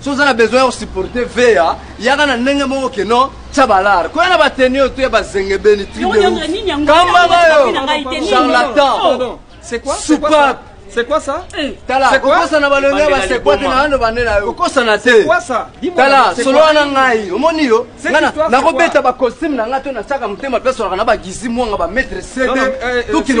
so oza na besoin ya kosuporte vea yaka na ndenge moko ke no tya balare koya na bateni oyo to ya bazengebeni tribekambanga yo charlatan c'est quoi soupape C'est quoi ça eh, Tala, kokosa na balongi ya basekwa te na bando bande na yo. Kokosa na te. Tala, solo wana ngai, omoni yo? Ngana nakobeta ba costume na ngai to na saka motema pe solaka na ba gizi mwanga ba maître CD. Tout qui ne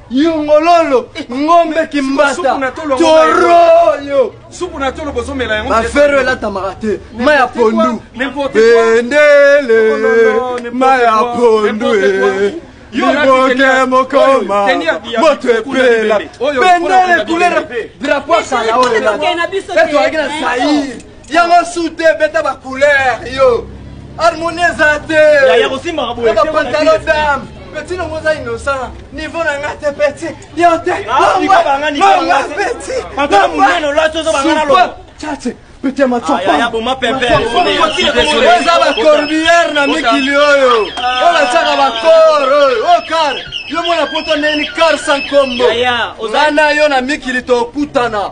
yongololo ngombe kimbata toroyo supu na tolo bozomela yango bafero elatamaka te ma ya pondu bendele ma ya pondu liboke mokoma moto epela bendele kulera drapo asala oyo ezalaki na zaire yango su te beta ba couleur yo harmonie eza te bapantalon dame petit nongo oza innocent niveau na nga te petit yo te petit petit amatuapaoza bacorbiere na mikili oyo oyo batiaka bacor oyo o kar yo mona poto ndeni kar sankombo nga na yo na mikili tokutana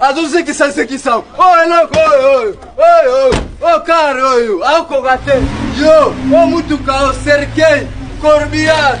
azozekisa zekisa oyo eloko oyo oyo oyo oyo oyo kare oyo akoka te yo o mutuka o serkei corbillard